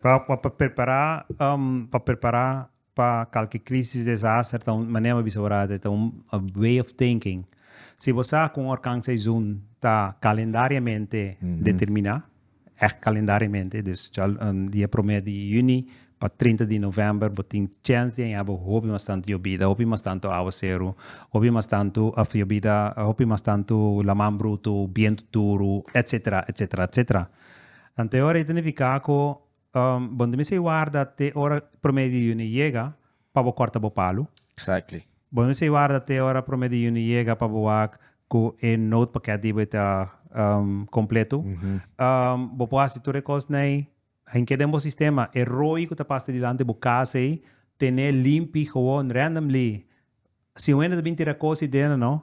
Pa pa pa prepará pa prepará pa kalke krísis, desaster ta un manera mi a bisa ora ta ta un way of thinking. Si bo sa ku un orkan seizun ta kalendariamente determiná, ègt kalendariamente, dus di e promé di yüni pa trinta di novèmber bo tin chèns di haña bo hopi mas tantu yobida, hopi mas tantu áwaseru, hopi mas tantu òf yobida, hopi mas tantu laman brutu, bientu duru, etsetera, etsetera, etsetera. Anteora e ta nifiká ku bo no mester warda te ora promé di yuni yega pa bo kòrta bo palu. Bo no mester warda te ora promé di yuni yega pa bo wak ku e noodpakèt di bo e ta kompletu. Bo por hasi tur e kosnei hinke den bo sistema. E roi ku ta pasa dilanti bo kas ei ten'é limpi, gewoon, rèndemli. Si un hende ta bin tira kosi den, no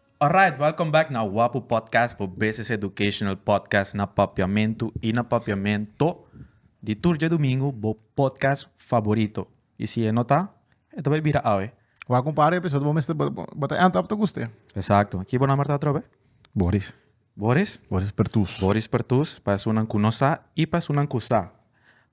Alright, welcome back na Wapu Podcast bo BCC Educational Podcast na Papiamentu i na Papiamento di tur djadumingu bo podcast faborito. I si e no ta, e ta bai bira awe. Wak un par episodio bo mester bo ta enta ap ta guste. Exacto. Ki bo nomber ta atrobe? Boris. Boris? Boris Pertus. Boris Pertus, pa esunnan ku no sa i pa esunnan ku sa.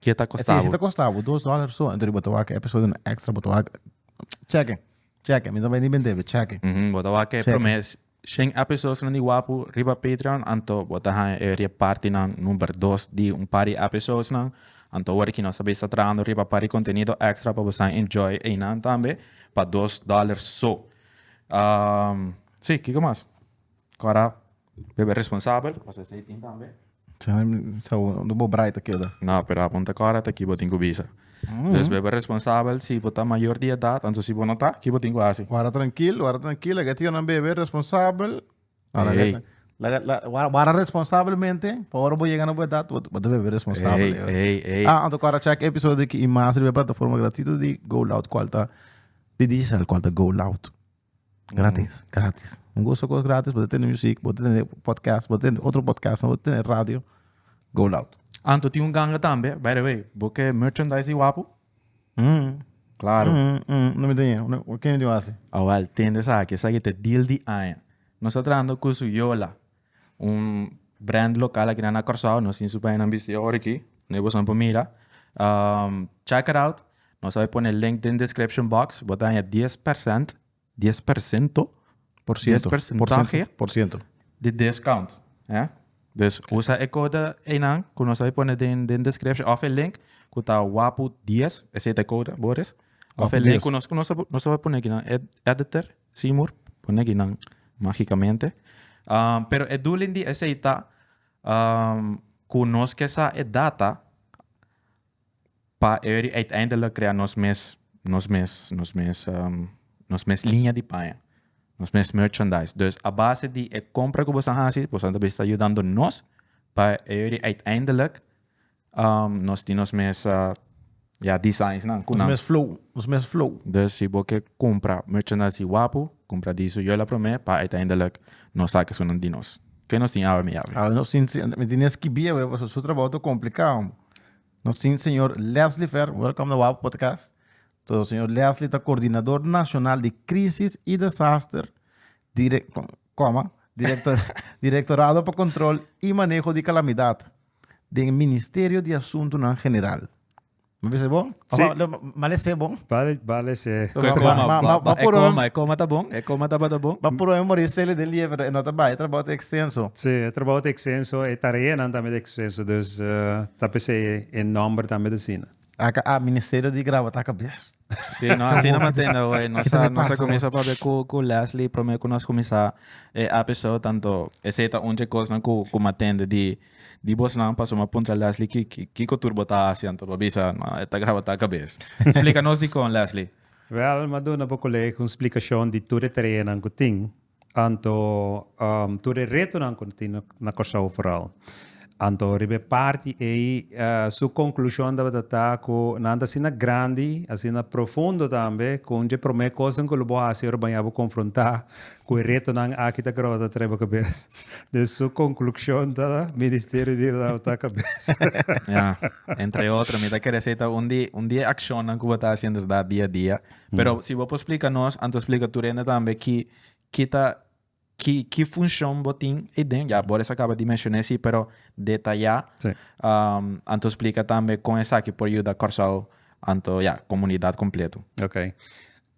Kia ta kosta bo? Si ta kosta bo dos dollar so, entu bo ta wak e episodio no extra, bo ta wak cheke, cheke, mi no bai ni bende bo, cheke. Bo ta wak e prome shen episodionan di Wapu riba Patreon, anto bo ta haña e repartinan number dos di un par di episodionan, anto awor aki nos ta bisa trahando riba par di contenido extra pa bosa enjoy einan tambe, pa dos dollar so. Si, kiko mas ku a wor a. Bo be responsabel pasobra esei tin tambe. Unda bo brai ta keda? No, pero a punta kòrda ta ki bo tin ku bisa. Entonces bo be responsabel si bo ta mayor di edat anto si bo no ta, ki bo tin ku hasi? Wara trankil, wara trankil. Lag'e tionan be be responsabel. Ey. Wara responsabelmente pa ora bo yega na bo edat bo ta be be responsabel. Ey, ey, ey. Ah, anto kòrda chèk e episodio di ki i mas riba e plataforma gratuito di Go Loud kual ta di Digicel kual ta Go Loud. Gratis, gratis. Un gozo cos gratis, bo ta tene muziek, bo ta tene podcast, bo ta tene otro podcast, bo ta tene radio. Go loud. Anto tin un ganga tambe, by the way. Bo ke merchandise di Wapu? Mm. Claro. Mm, mm, no me tenía. No, ¿Qué me dio así? Awel, tende saki, saki te deal di aña. Nos ta trahando cu su yola. un brand local aki na Curaçao nos tin su pañanan bisti awor aki na e boson por mira check it out nos a pone link den description box bo ta haña dies percent dies percento por ciento porcentahe por ciento di discount dus usa e code eynan cu nos a pone den den description of e link cu ta wapu dies esey ta e code boris of e link cu nos nos a pone aki na editor Seymour, pone aki nan magicamente. Um, pero e doelen di esey ta um, cu nos ke sa e data pa Uri uiteindelijk crea nos mes, nos mes, nos mes, um, nos mes linea di paña, nos mes merchandise. Dus a base di e compra cu bosan hasi, bosan ta bisa yudando nos pa Uri uiteindelijk Um, nos tin nos mes uh, ya designs nan ku Nos nan. mes flow, nos mes flow. Dus si bo ke kumpra merchandise si wapu, kumpra di su yola promé pa uiteindelik no sa ke sunan di nos. Ke nos tin awe mi Yawe? Awe nos tin, se- mi tin den skibí awe, pasobra su trabou ta komplikado, hombre. Nos tin señor Leslie Ver, welcome na Wapu Podcast. To señor Leslie ta Coordinador Nacional di Crisis y Desaster, dire, coma, directo, Directorado pa Control y Maneho di Calamidad, den Ministerio di Asuntunan General. Lo bisa bo? Sí. Lo male se bon? Vale, vale se. Con e coma, Ma- ma- ma- ba- e puro- coma, e coma ta bon, e coma tabata bon. Pa puro e mori sele de lieve, pero e no ta bai, e trabao ta extenso. Sí, e trabao ta extenso, e tareanan tambe ta extenso, dus eh, ta p'esei e nòmber tambe t'asina. Aka a Ministerio di Graba ta kabies. Sí, no, así no matende hoy. Nos a, nos a comienza papia cu, cu Leslie, prome cu nos comienza e episode, tanto ese ta unje cosnan cu, cu matende di, di bosnan, paso ma puntra Leslie ki, ki, kiko tur bo ta haci, anto bo bisa, no, e ta graba ta cabes. Splica nos dicon, Leslie. Wel, ma duna bo colega un splicacion di tur e tareanan cu tin. Anto tur e retonan cu no tin na Corsou foral. Anto riba e parti ey su conclusion tabata ta cu nan ta asina grandi, asina profundo tambe cu un dje prome cosnan cu lo bo haci ora baña bo confronta cu e retonan aki ta graba ta trae bo cabes. Den su conclusion ta Ministerio di Adapta Cabes. Ya, entre otro mi ta kere esey ta un di e accionnan cu bo ta haciendo esda dia dia. Pero si bo por splika nos, anto splika tur hende tambe ki ki ta ki ki funshon bo tin ei den, ya bo reis a kaba di menshon'é si pero detayá, Sí. anto splika tambe kon esaki por yuda Kòrsou anto ya komunidat kompletu. Ok.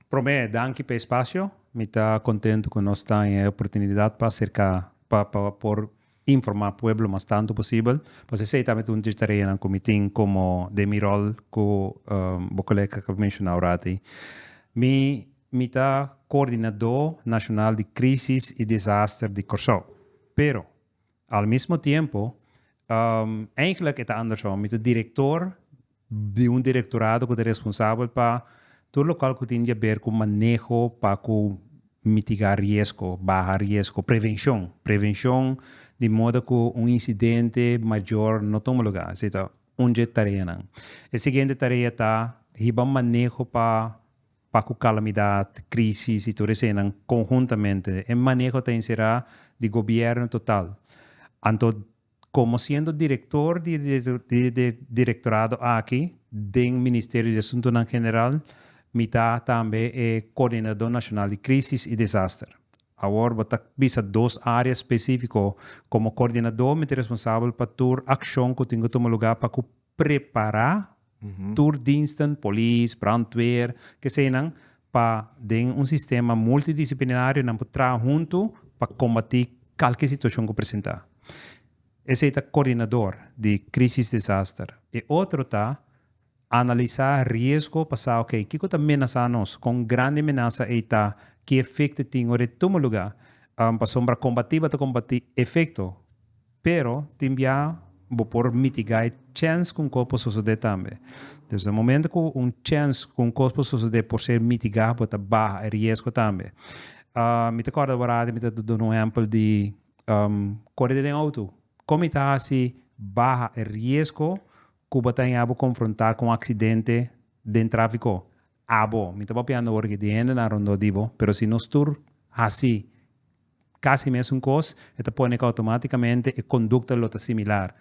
Promé, danki p'e espasio. Mi ta kontentu ku nos ta den e oportunidat pa aserká, pa pa por. Informá pueblo mas tantu posibel, pasobra esei ta un di tareanan ku mi tin komo den mi ròl ku bo kolega ku a menshona oratei. Mi mi ta koordinadó nashonal di krísis i desaster di Kòrsou. Pero al mismo tiempo, eihglik e ta andersom, mi ta direktor di un direktorado ku ta responsabel pa tur lokal ku tin di aber ku maneho pa ku mitigá riesko, baha riesko, prevenshon, prevenshon di moda ku un insidente mayor no tuma lugá. Esei ta un dje tareanan. E siguiente tarea ta hiba maneho pa pa ku kalamidat, krisis i tur esenan konhuntamente. E maneho ta enserá di gobièrnu total. Anto. Komo siendo direktor di e direktorado aki den Ministerio di Asuntunan General, mi ta tambe e Koordinadó Nashonal di Krísis i Desaster. Awor bo ta bisa dos área spesífiko. Komo koordinadó mi ta responsabel pa tur akshon ku tin ku tuma lugá pa ku prepará tur diensten, polis, brandweer, kesenan, pa den un sistema multidisciplinario nan por traha huntu pa combati calke situacion cu presenta. Esey ta coordinador di crisis desaster. E otro ta analisa riesgo pa sa ok, kico ta menasa nos, con grandi menasa ey ta, ki efecto tin ora e tuma lugar, pasobra combati bo ta combati efecto. Pero tin bia bo por mitigá e chèns ku un kos por sosodé tambe. Dus na momentu ku un chèns ku un kos por sosodé por ser mitigá, bo ta baha e riesgo tambe. Mi ta kòrda wòrada mi ta duna un ehèmpel di kore den outo. Kon mi ta hasi baha e riesgo ku bo ta haña bo konfrontá ku un aksidente den tráfiko? Abo, mi ta papiando awor di hendenan rondó di bo, pero si nos tur hasi casi mesun cos, e ta pone cu automáticamente e conducta lo ta similar.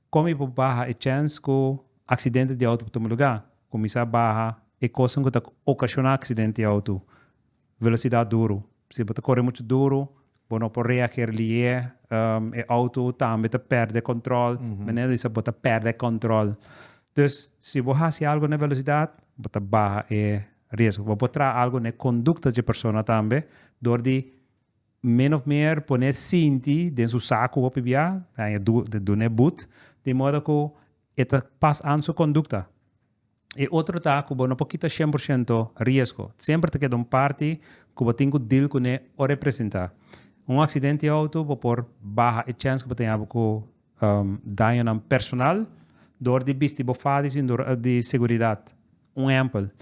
Con mi por baha e chance cu accidente di auto por tuma lugar? Cuminsa baha e cosnan cu ta ocasiona accidente di auto Velosidat duru. Si bo ta kore muchu duru, bo no por reager lié, e outo tambe ta pèrdè kòntròl, manera di ser bo ta pèrdè kòntròl. Dus, si bo hasi algu na e velosidat, bo ta baha e riesgo. Bo por traha algu na e kondukta dje persona tambe, dor di min òf mer pon'é sinti den su sa ku bo hopi bia, duna e but, di modo ku e ta pas an su kondukta. E otro ta ku bo no por kita shen por shento riesgo. Semper ta keda un parti ku bo tin ku dil kuné o representá. Un aksidente di outo bo por baha e chèns ku bo ta yama ku dañonan personal dor di bisti bo fada di sindurón di seguridat. Un ehèmpel,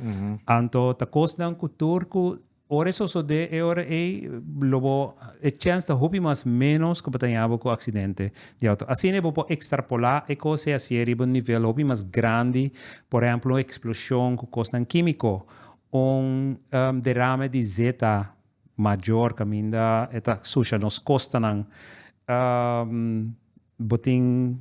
anto ta kosnan ku tur ku Ora e sosodé e ora ei lo bo e chèns ta hopi mas ménos ku bo ta yaña bo ku aksidente di outo. Asina bo por ekstrapolá e kos ei hasié riba un nivel hopi mas grandi, por ehèmpel un eksploshon ku kosnan kímiko, un derame di zeta mayor kaminda e ta susha nos kostanan, bo tin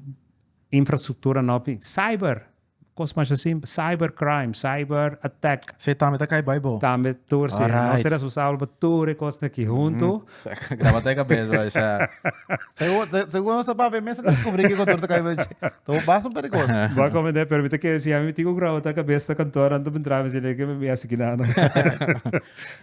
infrastruktura nòmpi, cyber. Cos mas así, cyber crime, cyber attack. Sí, tambe ta cay bay bo. Tambe tur, sí. Alright. Nos ta responsable pa tur e cosnan aki hunto. Graba ta e cabeza, brother, sa. Segun, se, segun nos ta papia, mes ta descubri kico tur ta cay bay. Ta bo basta un par de cos. Bo come de permite que si a mi tin cu graba ta cabeza ta kantoor anto mi drama si leke mi asi kinano.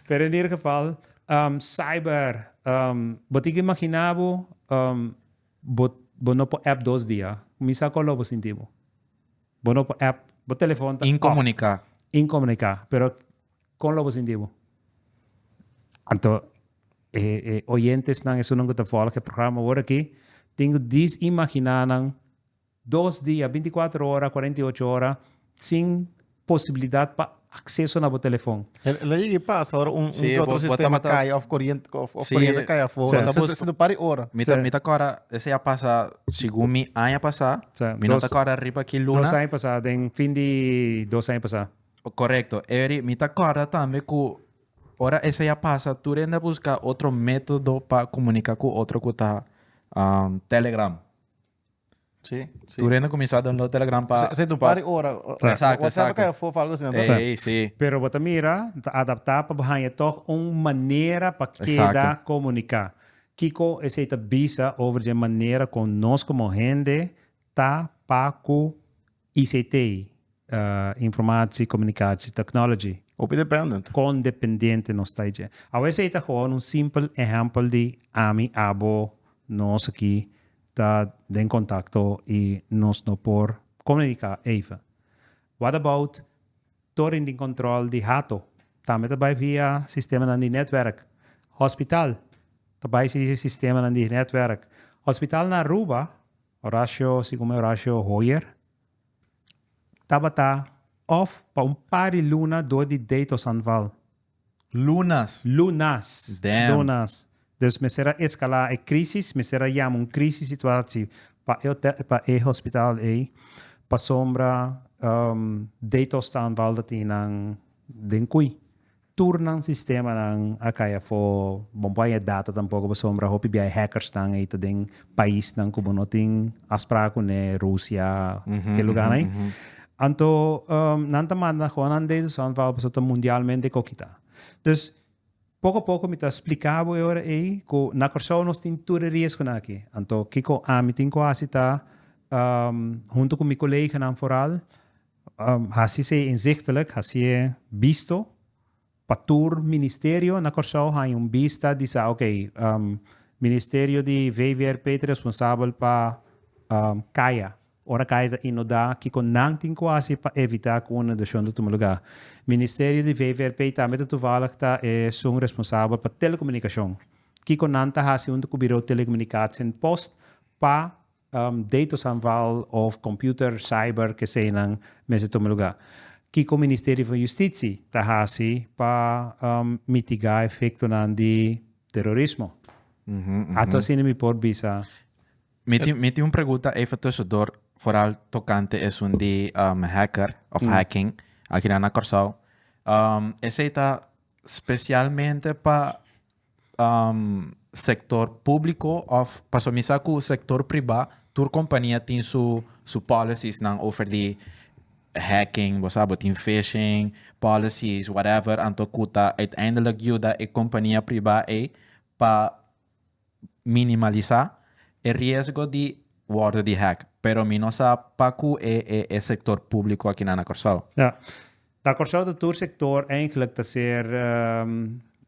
Pero en ieder geval, ehm, cyber, ehm, bo tin cu imagina bo, ehm, Bo bo no por app dos dia. Mi sa color bo sinti bo. Bo no por app. Bo telefon ta off. Incomunica. Incomunica. Pero con lo bo sinti bo? Anto e e oyentesnan esunnan cu ta volg e programa awor aki tin cu disimagina nan. Dos dia, binti kuater ora, kuarenta i ocho ora sin posibilidat pa akseso na bo telefon. El a yega i pasa ora un ke otro sistema kai òf koriente koriente a kai afó si ta para e ora. Mi ta kòrda esei a pasa segun mi aña pasá, mi no ta kòrda riba ki luna. Dos aña pasá, den fin di dos aña pasá. Korekto, eri mi ta kòrda tambe ku ora esei a pasa tur hende a buska otro método pa komuniká ku otro ku ta Telegram. Sí, sí. Turena kuminsá download Telegram pa Esei ta un par di ora. Exacto, WhatsApp a exacto. kaya fof algo asina. Ey, ey, sí. Pero bo ta mira, bo ta adaptá pa bo haña tòg un manera pa keda Exacto. komuniká. Kiko esei ta bisa over dje manera kon nos komo hende ta, pa, ku. ICT, Informatie Communicatie Technology. Hopi dependent. Con dependente nos ta dje. Awes ey ta gewoon un simpel ehempel di ami, abo, nos aki ta den contacto y nos no por comunica even. What about toren di control di hato? Tambe ta bay via sistemanan di netwerk. Hospital ta bay si sistemanan di netwerk. Hospital na Aruba. Horacio, si como Horacio Hoyer, tabata of pa un par di luna door di day to San Val. Lunas? Lunas. Damn. Lunas. Dus mester a escala e crisis, mester a yama un crisis situatie pa e hotel, pa e hospital ey, pasobra day to San Val ta tin nan den cui. Tur nan sistemanan a cay afo. Bo no por haya data tampoco pasobra hopi biaha e hackers nan ey ta den paisnan cu bo no tin afspraak cu ne, Rusia, ke lugarnan ey. Anto nan ta manda aho nan data so anto pasobra ta mundialmente kokita. Dus poco a poco mi ta splica bo e ora ey cu na Corsou nos tin tur e riesgonan aki. Anto kico ami tin cu haci ta hunto cu mi coleganan foral, Hasi se inzichtelijk, hasi e bisto, pa tur ministerio na Kòrsou haña un bista di sa ok, ministerio di VVRP ta responsabel pa kaya, ora kaya ta inodá kiko nan tin ku hasi pa evitá ku un inundashon ta tuma lugá. Ministerio di VVRP tambe ta tuvallig ta esun responsabel pa telekomunikashon, kiko nan ta hasi huntu ku Birou Telekomunikatie'n Post pa Datos anval of computer, cyber, kesenan mester tuma lugar. Kiko Ministerio van Justitie ta hasi pa mitiga efectonan di terrorismo? Ato asina mi por bisa. Mi tin mi tin un pregunta even tusendor foral tocante esun di hacker of hacking aki nan na Corsou esey ta specialmente pa sector publico of pasobra mi sa cu sector priba tur compania tin su su policies nan over di hacking bo sa bo tin fishing policies whatever anto cu ta uiteindelijk yuda e compania priba ey pa minimalisa e riesgo di wordo di hack pero mi no sa pacu e e e sector publico akinan na Corsou. Na Kòrsou ta tur sektor eindelijk ta ser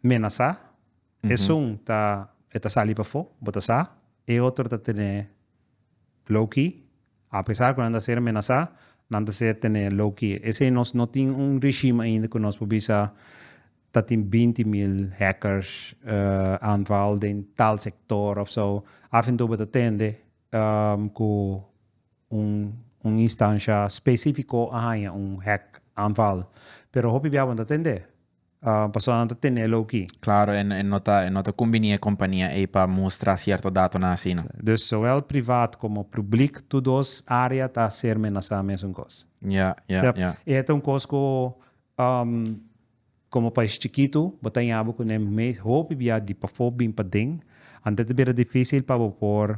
menasá. Esun ta e ta sali pafó, bo ta sa. E otro ta tene low key. Apesar ku nan ta ser menasá, nan ta ser tene low key. Esei nos no tin un regime ainda ku nos por bisa ta tin binti mil hackers aanval den tal sektor òf sou. Af en tou bo ta tende ku. Un instansha spesífiko a haña un hack aanval, pero hopi biahanan ta tende, pasobra nan ta tene lo ki. Klaro, e no ta e no ta kumbinié e kompania ei pa mustra sierto datonan así no. Dus sowel privat komo públik tur dos área ta ser menasá mesun kos. Ja, ja, ja. E ta un kos ku. Komo pais chikitu, bo ta yama ku n'e mes hopi bia di pafó bin paden, ante ta bira difísil pa bo por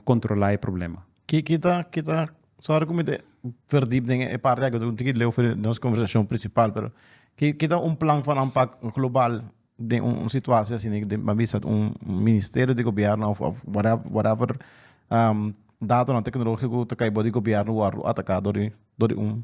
kontrolá e problema. Kiko ta kita sòru ku mi ta pèrdí den e parti aki? Unda ki leu fo nos konversashon prinsipal, pero ki ta un plan for nan pak global den un situasie asina den a bisa un ministerio di gobièrnu òf whatever datonan teknológiko ku ta kai bou di gobièrnu wòrdu ataká dor di un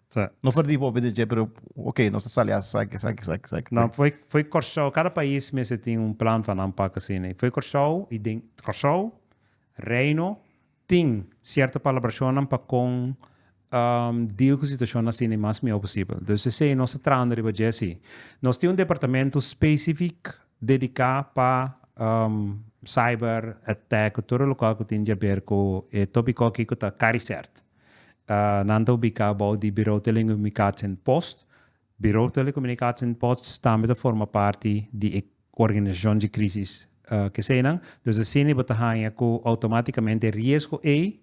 Sa. No for di bo be di dje pero ok nos ta sali asa saki saki saki saki. No foi foi Kòrsou kada pais mester tin un plan pa nan pak asina i foi Kòrsou i den Kòrsou Reino tin sierto palabrashonnan pa kon deal ku situashon asina i mas mihó posibel. Dus esei nos ta trahando riba dje si. Nos tin un departamentu spesifik dediká pa cyber attack ku tur e lokal ku tin di aber ku e topiko aki ku ta Caricert. Nan ta ubiká bou di Birou Telekomunikatsie en Post. Birou Telekomunikatsie en Post tambe ta forma parti di e organisashon di krísis kesenan. Dus asina bo ta haña ku outomátikamente riesgo ei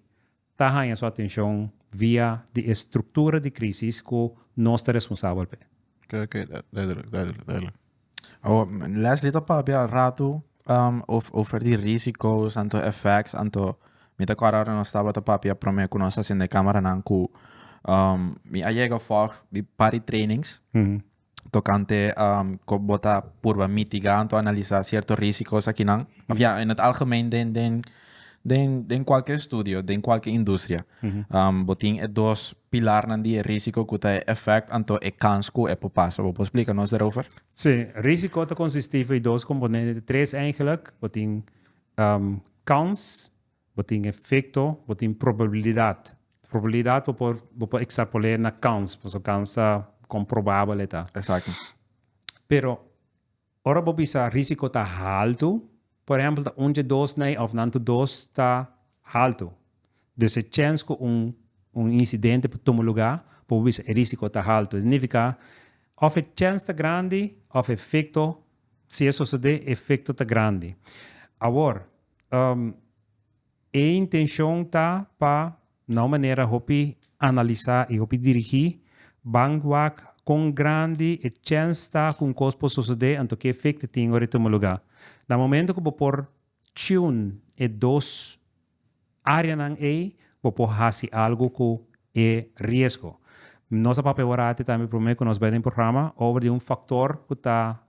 ta haña su atenshon via di e struktura di krísis ku nos ta responsabel p'e. Oke, oke. Duidelijk, duidelijk, duidelijk. Oh, Leslie ta papia al rato um, of, over di risicos, anto effects, anto... Mi ta kora ora nos tabata papia prome ku nos asende kameranan ku um, mi a yega fog di pari trainings Mhm. tokante um, ko bota purba mitiga anto analisa sierto risicos akinan. Of ya, in het algemeen den, den Den den cualkier estudio, den cualkier industria, bo tin e dos pilarnan di e risico cu ta e effect anto e kans cu e por pasa. Bo por splica nos daarover? Sí, risico ta consisti for e dos componente, ta tres eigenlijk. Bo tin kans, bo tin efecto, bo tin probabilidad. Probabilidad bo por bo por extrapolera na kans, pasobra kans ta comprobabel e ta. Exacto. Pero Ora bo bisa risiko ta haltu, por ehèmpel ta un dje dos nei òf nan tu dos ta haltu, dus e chèns ku un un insidente por tuma lugá por bo bisa e risiko ta haltu. Signifiká òf e chèns ta grandi òf e efekto, si e sosodé, e efekto ta grandi. Awor, e intenshon ta pa Na un manera hopi analisá i hopi dirigí, ban wak kon grandi e chèns ta ku un kos por sosodé anto ki efekt e tin ora e tuma lugá. Na momentu ku bo por tune e dos áreanan ei, bo por hasi algu ku e riesgo. Nos a papia ora aki tambe promé ku nos bai den programa over di un faktor ku ta.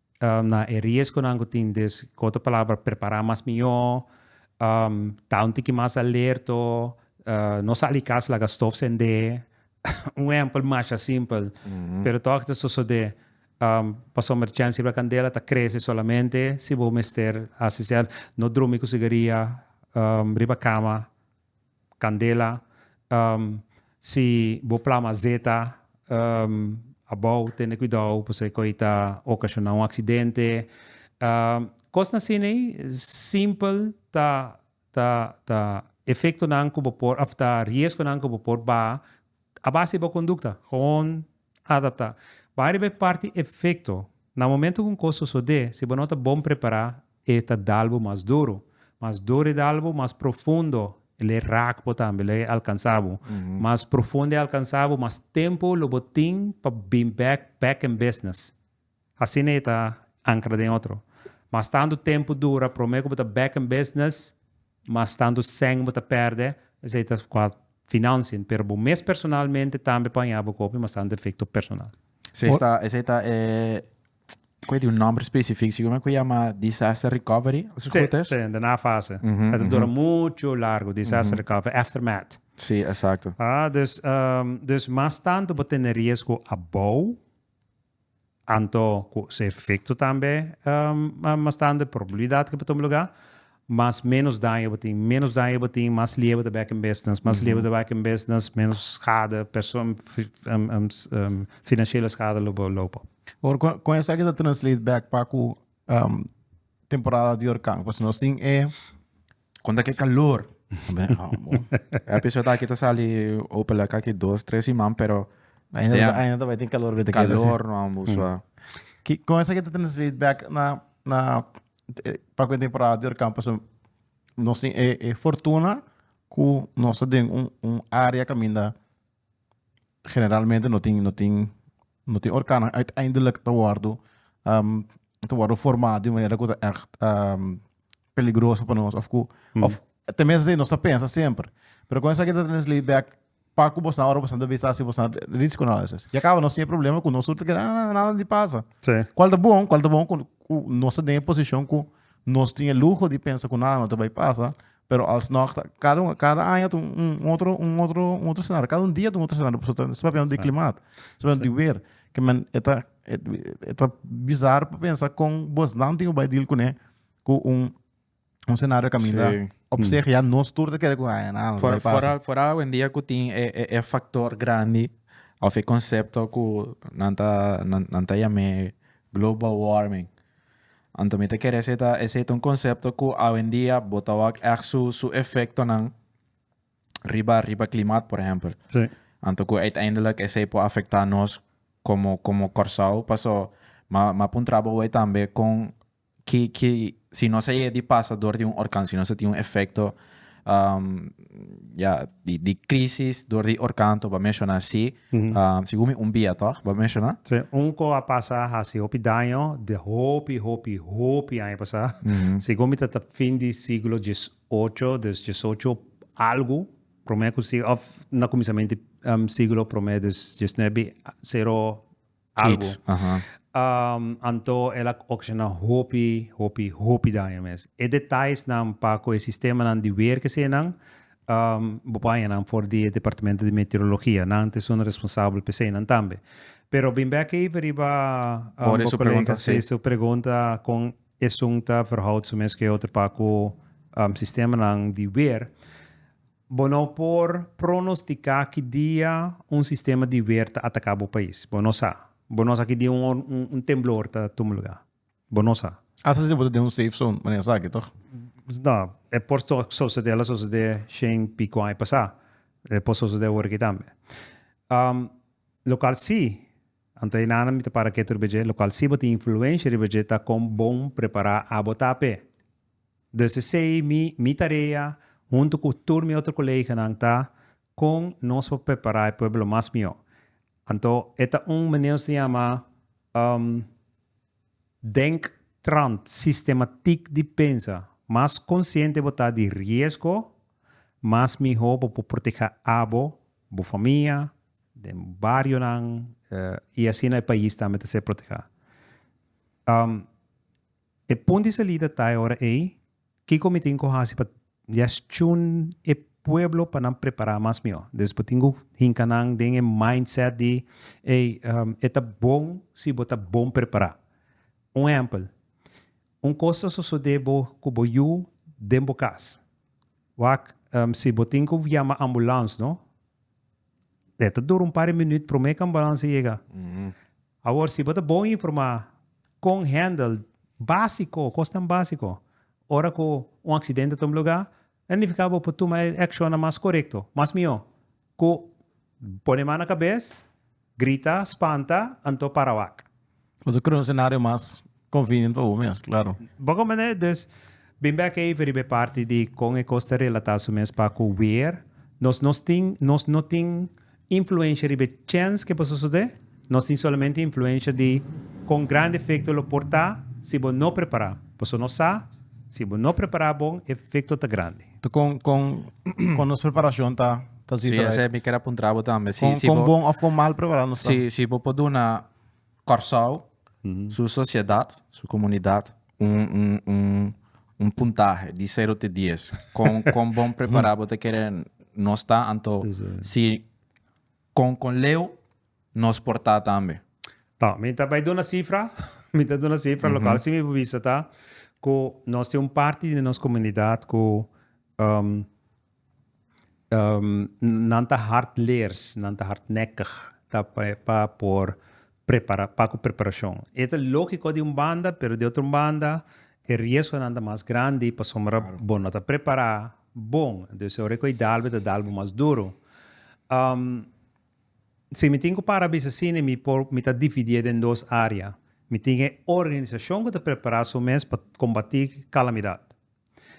na e riesgonan ku tin. Dus ku otro palabra prepará mas mihó, ta un tiki mas alerto, no sa di kas laga stof sendé, un ehèmpel masha simpel pero tòg ta sosodé. Pasobra chèn sirba kandela ta krese solamente si bo mester hasi sèn, no drumi ku sigaria riba kama Candela, Ehm, si bo plama zeta, ehm, abou, tende cuidou, pasobra cu ey ta ocasiona un accidente. Ehm, cosnan asina ey, simpel, ta, ta, ta efectonan cu bo por, of ta riesgonan cu bo por baha a base di bo conducta. Gewoon adapta. Bay riba e parti efecto. Na momento cu un cos sosode, si bo no ta bon prepara, E ta dal bo mas duro. Mas duro e dal bo, mas profundo el a raak bo tambe, el a alkansa bo. Mas profundo e alkansa bo, mas tempu lo bo tin pa bin bek back in business. Asina e ta ankra den otro. Mas tantu tempu dura, prome ku bo ta back in business, mas tantu sèn bo ta pèrdè, esei ta kua financian, pero bo mes personalmente tambe por haña bo kopi, mas tantu efekto personal. Esei ta e cu e tin un nomber specific, si cu me cu yama disaster recovery, al si goed es? Sí, sí, daarna fase. Het a dura mucho largo, disaster recovery, aftermath. Sí, exacto. Ah, dus, dus mas tanto bo tene riesgo abou, anto cu su efecto tambe mas tande, probabilidad cu bo tuma lugar, mas menos daño bo tin. Menos daño bo tin, mas liever ta back in business. Mas liever ta back in business, menos schade, financiële schade lo bo lopen. Hoor, con, con esaki ta translate back pa cu temporada di hurcan. Pues nos tin e. Con ta ke calor. Episode aki ta sali hopelijk aki dos, tres siman, pero Ainda, ainda ta bay tin calor bete. Calor no ambu sua. Ki, con esaki ta translate back na na papia den parada di Orikampo so nos tin e e fortuna ku nos ta den un un área kaminda generalmente no tin no tin no tin orkanan uiteindelik ta wòrdu ta wòrdu forma di un manera ku ta ègt peligroso pa nos of ku ten meste nos ta pensa semper pero kon esaki ta trese lei bek pa ku bosan ora bosan ta bisa si bosan rich ku nos esaki. Ya kaba nos tin e problema ku nos tur ta keda ah ah nada di pasa. Sí. Kual ta bon kual ta bon ku ku nos ta den e posishon ku nos tin e luho di pensa ku nada no ta bai pasa pero alsnog ta kada un kada aña ta un un otro un otro un otro senario kada un dia ta un otro senario pasobra ta esaki papiando di klimat esaki papiando di wer ke men e ta e ta bizar pa pensa kon bosnan tin ku bai deal kuné ku un Un senario caminda sí. op mm. zich ya nos tur te kere ku ay na. For, vooral vooral hoy en día ku tin e, e, e factor grandi of e concepto ku nanta nanta yame global warming. Anto mi te kere seta ese un concepto ku hoy en día botawak ek su su efecto nan riba riba klimaat por ejemplo. Sí. Anto ku uiteindelijk ese po afecta nos como como Corsao paso ma ma pun trabo tambe kon Ki ki si nos a yega di pasa dor di un orkan si nos a tin un efekto ya di di krisis dor di orkan to bo a menshona si segun mi un bia tog bo a menshona. Sí un ko a pasa a hasi hopi daño di hopi hopi hopi aña pasá segun mi ta ta fin di siglo dies ocho des dies ocho algu prome ku si òf na kuminsamentu siglo prome des dies nuebe sero algo. Um, anto el a ocasiona hopi, hopi, hopi daño mes. E detalles nan pa cu e sistema nan di weer que nan, um, bopaña nan for di departamento di meteorologia. Nan te son responsable pe se nan tambe. Pero bin back even riba um, Ore su pregunta, si. Su pregunta con e sunta verhoud su mes que otro pa cu um, sistema nan di weer. Bo no por pronosticá ki dia un sistema di weer ta atacá bo pais. Bo no sa. Bo no sa ki dia un temblor ta tuma lugá. Bo no sa. Hasta si bo ta den un safe zone, manera esaki, toch? No, e por sosodé, el a sosodé shen pico aña pasá. E por sosodé ora aki tambe. Local sí, anto e nana mi ta para ketu riba dje, local sí bo tin influencia riba dje ta con bon prepará abo ta p'e. Dus esei mi mi tarea huntu ku tur mi otro koleganan ta kon nos por prepará e pueblo mas mihó. Anto e ta un maneer nos ta yama denktrant, sistematik di pensa. Mas konsiente bo ta di riesgo, mas mihó bo por protehá abo, bo famia, den barionan i asina e pais tambe ta ser protehá. E pon di salida ta e ora ei, kiko mi tin ku hasi pa gestjon e pueblo pa nan prepará mas mihó? Des bo tin ku hinka nan den e mindset di ey, e ta bon si bo ta bon prepará. Un ehèmpel, un kos ta sosodé bo ku bo yu den bo kas. Wak si bo tin ku yama ambulans no, e ta dura un par di minüt promé ku ambulans a yega. Awor si bo ta bon informá kon hèndel básiko, kosnan básiko, ora ku un aksidente ta tuma lugá, ta nifiká bo por tuma e akshonnan mas korekto, mas mihó ku pone man na kabes, grita, spanta, anto para wak. Bo ta kore un senario mas Convenient pa bo mes, claro. Bo comprende? Dus, bin bek even riba e parti di con e cos ta relata su mes pa cu weer. Nos no tin, nos no tin influencia riba e chens cu e por sucede. Nos tin solamente influencia di con grandi efecto lo por ta si bo no prepara. Paso nos sa, si bo no prepara bon, e efecto ta grandi. Ta con, con, con nos preparacion ta, ta ziet eruit? Si, esei mi kier a puntra bo tambe. Si, si bo. Con, con bon of con mal prepara nos ta? Si, si bo por duna. Kòrsou, su sosiedat, su komunidat, un un un un puntahe di sero te dies. Kon kon bon prepará bo ta kere nos ta anto si kon kon leu nos por ta tambe? Tò, mi ta bai duna sifra, mi ta duna sifra lokal. Si mi por bisa ta ku nos tin un parti di nos komunidat ku Nan ta hard leers, nan ta hardnekkig, ta pa por prepara, pa ku preparashon. E ta lógiko di un banda, pero di otro banda e riesgonan ta mas grandi pasobra bo no ta prepará bon. Dus ora ku e dal bo, e ta dal bo mas duru. Si mi tin ku para bisa asina, mi por, mi ta dividié den dos área. Mi tin e organisashon ku ta prepará su mes pa kombatí kalamidat.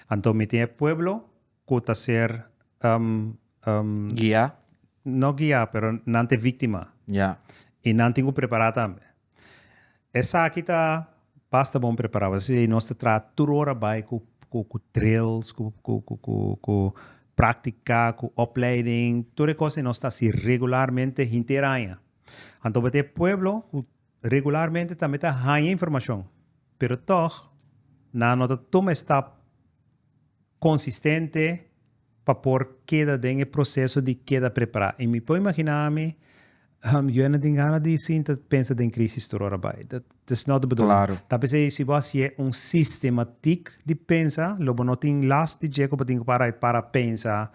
Anto mi tin e pueblo cu ta ser um, um, Guia. no guia, pero nan te victima. Ja. Y nan tin cu prepara tambe. Esaki ta basta bon prepara. Por eso esei nos ta traha tur ora bay cu, cu, cu drills, cu, cu, cu, cu, cu practica, cu opleiding, tur e cos ei nos ta haci regularmente hinter aña. Anto bo ta e pueblo cu Regularmente tambe ta haña informashon, pero tòg nan no ta tuma e stap konsistente pa por keda den e proseso di keda prepará. I mi por imaginá mi, yu a na tin gana di sinta pensa den krísis tur ora bai. Dat is nòt de bedoeling. Ta p'esei si bo hasié un sistematik di pensa, lo bo no tin last di dje ku bo tin ku para i para pensa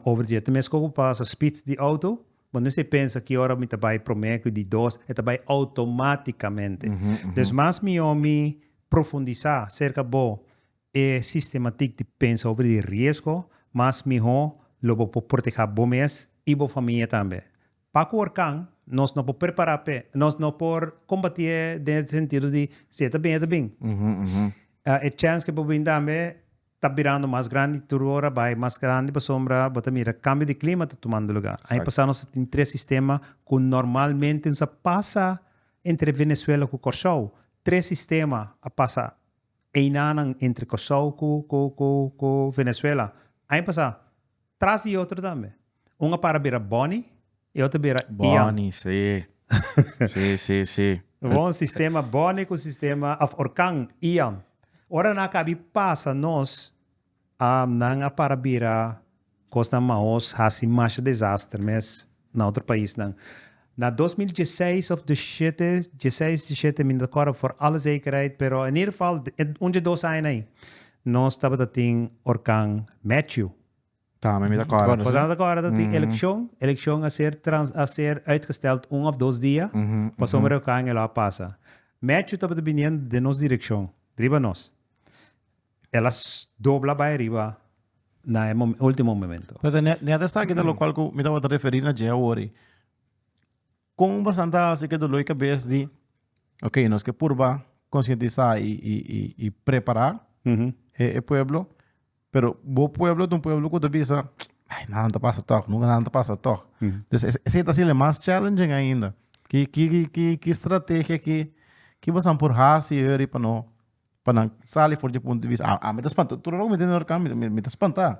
over dje. Ta mes ku ku pasa spit di outo, Bo no esei pensa ki ora mi ta bai promé ku di dos e ta bai outomátikamente. Des mas mihó mi profundisá serka bo e sistematik di pensa over di riesgo, mas mihó lo bo por portehá bo mes i bo famia tambe. Pa ku orkan nos no por prepará p'e, nos no por kombatí e den e sentido di si e ta bin e ta bin. E chèns ku e por bin tambe ta birando mas grandi, tur ora bai mas grandi pasobra bo ta mira kambio di klima ta tumando lugá. Aña pasá nos a tin tres sistema ku normalmente nos a pasa entre Venezuela ku Kòrsou. Tres sistema a pasa einanan entre Kòrsou ku Venezuela. Aña pasá tras di e otro tambe. Un a para bira Bonnie y otro bira Ian. Bonnie, sí. Sí, sí, sí. Bon sistema Bonnie cu sistema, of Orkan, Ian. Ora nan a cabi pasa nos, um, nan a para bira cosnan maos haci masha desaster mes na otro paisnan. Na dos mil dieseis of deshete, dieseis, deshete, mi no ta acorda for alle zekerheid, pero in ieder geval, un dje dos aña na ahi, nos tabata tin Orkan Matthew. Tambe mi ta kòrda Bueno, kusnan ta kòrda ta tin elekshon, elekshon a ser trans a ser uitgestèld un òf dos dia pasobra reokaing e lo a pasa. Mètju tabata biniendo den nos direkshon riba nos. E lo a dobla bai riba na e mo último momento. Pero ta ne neat esaki ta lokual ku mi tabata referí na dje awor ei. Kon bastan ta hasi ku e doló i kabes di ok, nos ke purba konsientisá i prepará e pueblo, pero bo pueblo ta un pueblo ku ta bisa, Ai, nanan ta pasa tòg, nunka nanan ta pasa tòg. Pues esei ta hasinan mas challenging ainda. Ki strategia ki bosan por hasi ora pa no, pa nan sali for di e punto di vista? Ami ta spantá, tur alor ku mi tene Norcam mi ta spantá.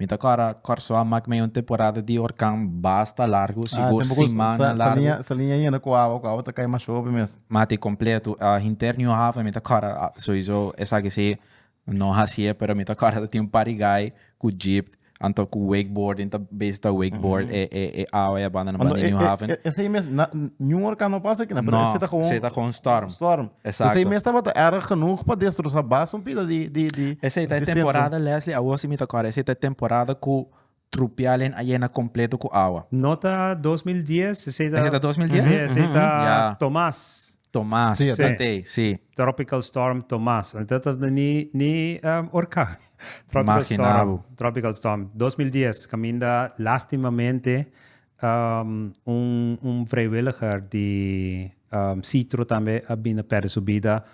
Mi ta kòrda Kòrsou a mak mei un temporada di orkan basta largu, sigur simana largu. Ah, tempo ku saliña a yena ku awa, ku awa ta kai masha hopi mes. Mata i kompletu. Hinter New Haven mi ta kòrda, souiso esaki si no hasié, pero mi ta kòrda ta tin un par di gai ku jeep, anto ku wakeboarding, ta bezi ta wakeboard e awa e a banda nan banda di New Haven. Esei mes, New Orkan no pasa akina, pero esei ta gewoon. No, esei ta gewoon storm. Storm. Exacto. Esey mes tabata erg genoeg pa destrosa bas un pida di di di Esey ta e temporada Leslie awo si mi ta kore esey ta e temporada ku trupial hen a yena kompleto ku awa. No ta dos mil dies esey ta. Esey ta dos mil dies? Si esey ta Ya. Tomas. Tomas Si, ta tey si. Tropical storm Tomas a ta ta ni ni orkan tropical storm Imaginabo. tropical storm dos mil dies kaminda lastimamente Un vrijwilliger di Sitro tambe a bini pèrdè su bida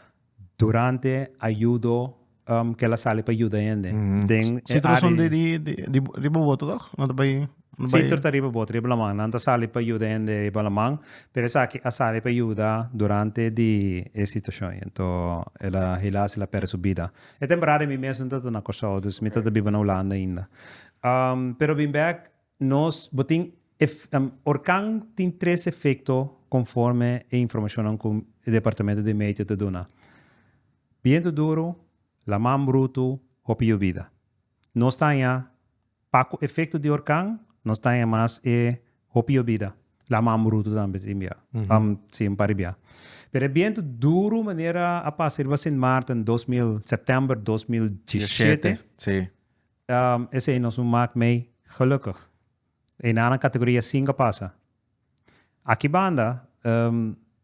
durante a yudo ku el a sali pa yuda hende den e área. Sitro son riba boto tòg? Nan ta bai. Sitro ta riba boto, riba laman. Nan ta sali pa yuda hende riba laman, pero esaki a sali pa yuda durante di e situashon. Anto el a hilá si el a pèrdè su bida. E temporada mi mes no tabata na Kòrsou, dus mi tabata biba na Hulanda ainda. Pero bin bèk Nos, bo tin ef, em, Orkan tin tres efekto konforme e informashonnan ku e departamento di meteo ta duna, bientu duru, laman brutu, hopi yubida. Nos ta haña pa ku efekto di orkan nos ta haña mas e hopi yubida, laman brutu tambe tin bia, em, si un par di bia. Pero e bientu duru manera a pasa riba Sint Maarten dos mil, september dos mil dieshete, Dieshete, si. Esei nos un mak mei gelukkig. Eina na categoria cinco pasa. Aki banda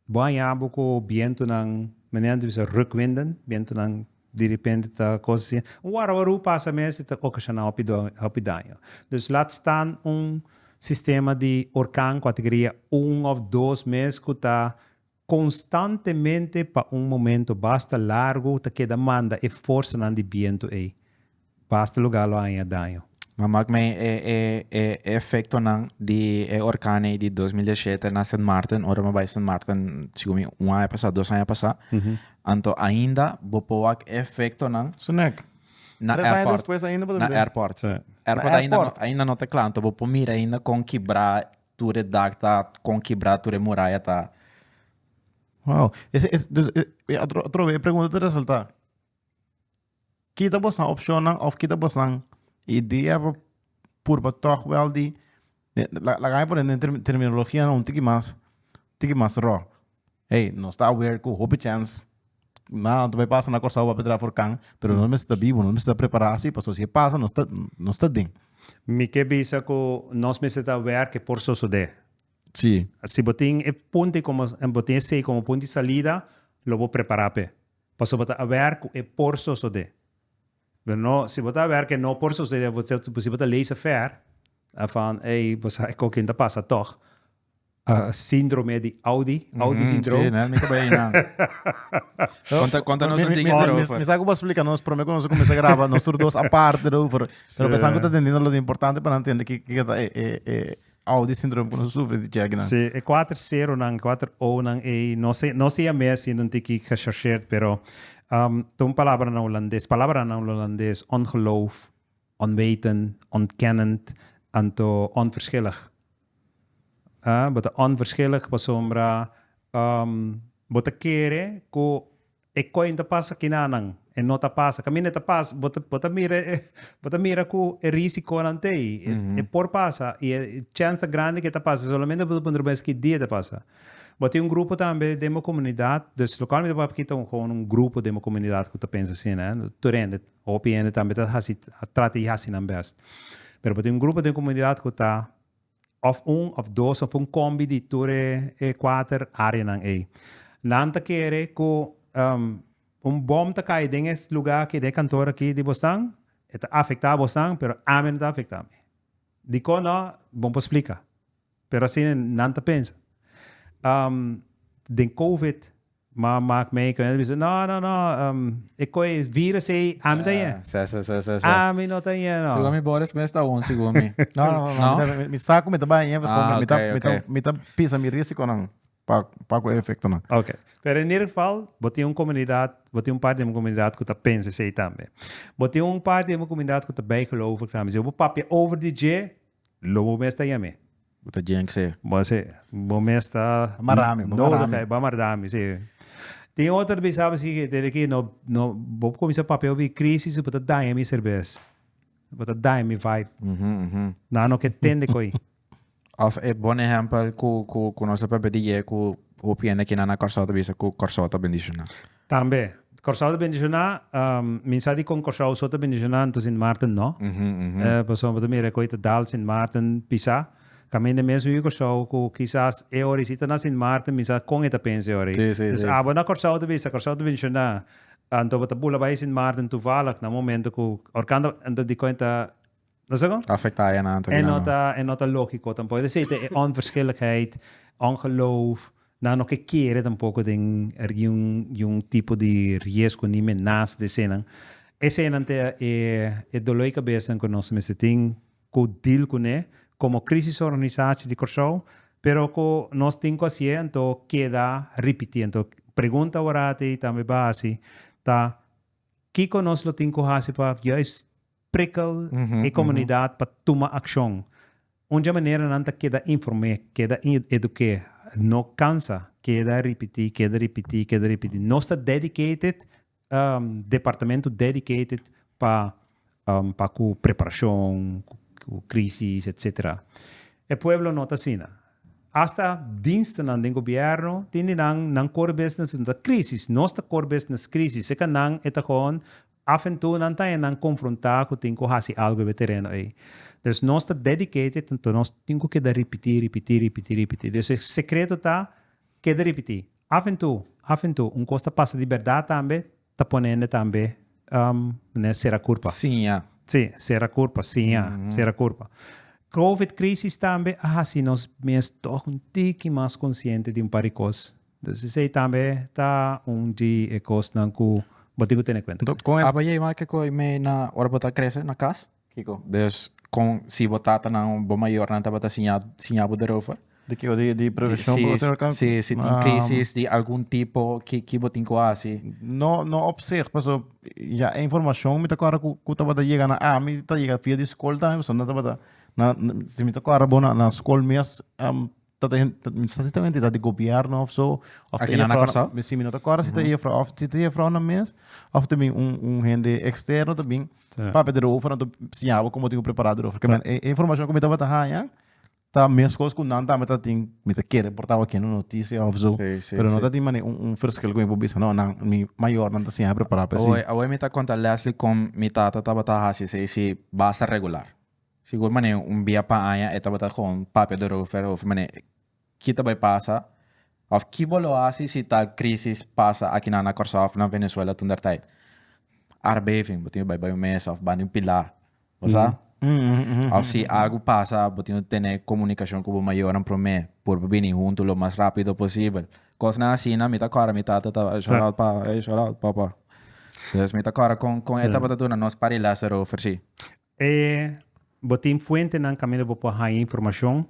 bo a haña bo cu bientunan, manera nan di bisa rukwinden, bientunan di repente ta cos asin. Un warawaru pasa mes y ta ocasiona hopi daño. Dus laat staan un sistema di orkan categoria un of dos mes cu ta Konstantemente pa un momento basta largu ta keda manda e forsanan di bientu ei basta lugá lo haña daño. M'a mak mei e e e efektonan di e orkan ei di dos mil diasiete na Sint Maarten, ora m'a bai Sint Maarten sigu mi un aña pasá, dos aña pasá, anto ainda bo por wak e efektonan Su nèk. na Tres aña airport, despues ainda bo ta na bira. airport. Na Airport ainda no airport. ainda no ta kla, anto bo por mira ainda kon kibrá Tur e dak ta con kibra, tur e muraya ta. Wow. Ese, ese, dus, e, e, otro, otro vez e pregunta ta resulta. Kita bosan opcionnan of kita bosan idea pa purba toch wel di, de, la, laga mi pone den term- terminologianan un tiki mas, tiki mas ro. Hey, nos ta aware cu hopi chens nada no ta bay pasa na Corsao papia dra for can, pero nos mester ta bibo, nos mester ta prepara asi pasobra si e pasa nos ta nos ta den. Mi ke bisa ku nos mester ta aware ke por sosode. Si. Si bo tin e punti komo bo tin esei komo punti di salida lo bo prepara p'e paso bo ta aware ku e por sosode. Pero no si bo ta aware ke no por sosode si bo ta lees e fair afan ey bo sa e kokin ta pasa tog A síndrome di Audi, Audi Mhm, syndrome. Sí, né? Mi ta bai einan. Conta, conta nos un Mi- mi- tigre mi- erover. mi sa cu bo explica nos prome cu nos a cuminsa graba nos tur dos aparte erover pero pensa cu ta tendiendo lo importante pa nan tende ki ki ta e e e Audi syndrome cu nos sufri di check nan. Sí, e kuater seronan, kuater onan ei, no sé, no sé a mé haciendo un tiki gechargeerd, pero um, ta un palabranan Holandes, palabranan Holandes, ongeloof, Onwetend, ontkennend, anto onverschillig. A Bo ta onverschillig pasobra bo ta kere ku e koin ta pasa kinanan e no ta pasa. Kaminda e ta pasa, bo ta bo ta mira bo ta mira ku e risikonan ta ei. E por pasa i e chèns ta grandi ku e ta pasa. E solamente bo ta puntra bo mes ki dia e ta pasa. Bo tin un grupo tambe den bo komunidat. Lokalmente bo papia kita un grupo den bo komunidat ku ta pensa asina, tur hende. Hopi hende tambe ta hasi, a trata di hasi nan bèst. Pero bo tin un grupo den komunidat ku ta òf un òf dos òf un kòmbi di tur e e kuater áreanan ei. Nan ta kere ku un bòm ta kai den e lugá aki, den e kantor aki di bosnan, e ta afektá bosnan, pero ami no ta afektá mi. Dikon nò? Bon por splika. Pero asina nan ta pensa. Um, den covid, ma maak mei koe, bisa, no, no, no, um, e koe virus ei, ami ta yen. Sa, sa, sa, sa, sa. Ami no ta yen, no. Segun mi Boris mes ta un, segun mi. No, no, no, no, mi ta, mi, mi sa ku mi ta bai yen, Ah, mi ta, ok, mi ta, ok. mi ta pisa mi risikonan pa, pa ku e efektonan. Oke. Pero en ieder geval, bo tin un komunidat, bo tin un parti di bo komunidat ku ta pensa esei tambe. Bo tin un parti di bo komunidat ku ta bijgelovig tambe. Si bo papia over di dje, Lobo mes ta yam'é. Bo ta djenk'se. Bo a se, bo mes ta. Marami, bo mara mi. Bo a marda mi, si. Tin otro ta bisa bo si, desde ki no, no, bo por cuminsa papia over e crisis, bo ta daña mi serves. Bo ta daña mi vibe. Nan no ke tende cu ey. Of e bon ehempel cu, cu, cu nos ta papia di dje cu hopi hende aki nan na Corsou ta bisa cu Corsou ta bendiciona. Tambe. Kòrsou ta bendishoná, mi sa di kon Kòrsou so ta bendishoná, anto Sint Maarten nò. Pasobra bo ta mira e kos i ta dal Sint Maarten pisá. Kaminda e mes hui Kòrsou ku kisas e ora i sita na Sint Maarten mi sa kon e ta pensa e ora ei. Entonces abo na Kòrsou ta bisa Kòrsou ta bendishoná, anto bo ta bula bai Sint Maarten tuvallig na un momento ku ora kanda anto dikon e ta. No sé kon? Afecta e nan ta E no ta e no ta lógiko tampoco. Te sete e onverschilligheid, ongeloof, nan no ke kere tampoco den er di un di un tipo di riesgo ni me naast di eseinan. Eseinan ta e e dolor di cabesanan cu nos ta mester tin cu deal cune como crisisorganisatie di Kòrsou, pero cu nos tin cu hacié anto keda ripiti. Anto pregunta awor ati tambe bo a haci ta kico nos lo tin cu haci pa juist prikel e komunidat pa tuma akshon. Un dje manera nan ta keda inform'é, keda eduk'é, no kansa keda ripití, keda ripití, keda ripití. Nos ta dedicated, departamento dedicated pa pa ku preparashon, ku krisis, etsetera. E pueblo no ta asina. Hasta dienstnan den gobièrnu tin di nan, nan kor besnes krisis, nos ta kor besnes krisis. Seka nan e ta hoon. Af en tu nan ta e nan konfrontá ku tin ku hasi algu ebe tereno ei. Dus nos ta dedicated anto nos tin ku keda ripití, ripití, ripití, ripití. Dus e sekreto ta keda ripití. Af en tu, af en tu, un kos ta pasa di bèrdat tambe ta pone hende tambe manera sera kurpa. Siña. Sí, sera kurpa, siña, sera kurpa. Covid krisis tambe a hasi nos mes tòg un tiki mas konsiente di un par di kos. Entonces esey tambe ta un di e cosnan cu bo tin cu tene cuenta. Entonces con aba yey m'a kico y mey na ora bo ta crece na cas? Kico? Des con si bo tatanan o bo mayornan tabata siña siña bo derover? Di kico? Di di prevision pa bo tin ora? Si si tin crisis di algun tipo ki ki bo tin cu haci? No no op zich paso ya e informacion mi ta cuadra cu cu tabata yega na ami ta yega via di scol tambe paso nan tabata na si mi ta cuadra bo na na scol mes dat e sa si ta un entidad di gobierno of so of ta e juffrouw si mi no ta corda si ta e juffrouw of si ta e juffrounan mes of ta bin un un hende externo ta bin papia derover anto siña bo como tin un prepara derover kiba e informacion ku mi tabata haña ta meskos ku nan tambe ta tin mi ta kere por ta awor kende noticia of so pero no ta tin manera un verschil ku mi por bisa no nan mi mayornan ta siña prepara pa e si. Awe mi ta konta Leslie kon mi tata tabata hasi esei si basta regular. Sigur mane un bia pa aña e tabata con papia di Rover over mane ki ta bay pasa of ki bo lo haci si tal crisis pasa aki na Curaçao of na Venezuela toen der tijd. Aardbeving, bo tin bay bay un mesa of bandi un pilar. Bo sa? Of si algo pasa bo tin un tene comunicacion cu bo mayornan prome por bo bini hunto lo mas rapido posibel. Cosnan asina mi ta acorda mi tata ta bay shell out pa, ey shell out papa. Entonces mi ta acorda con e tabata duna nos parilaster over si. E Bo tin fuentenan kaminda bo por haña informashon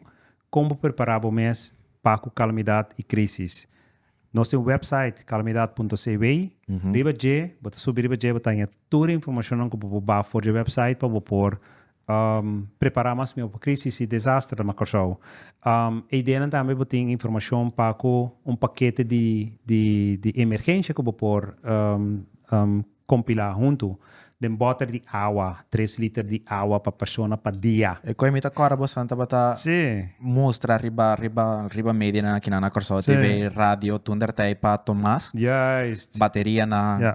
kon bo prepará bo mes pa ku kalamidat i krísis. Nos tin wèpsait calamidad punto cw. Riba dje bo ta subi riba dje bo ta haña tur e informashonnan ku bo por baha for di e wèpsait pa bo por prepará mas mihó pa krísis i desaster na Kòrsou. E ideanan tambe bo tin informashon pa ku un pakete di emergensha ku bo por Kompilá huntu den bòter di awa, tres liter di awa pa persona pa dia. E koe mi ta kòrda boso nan tabata mustra riba riba riba medianan akinan na Kòrsou, TV, radio, tun dèrtij pa Tomas, baterianan. Ja,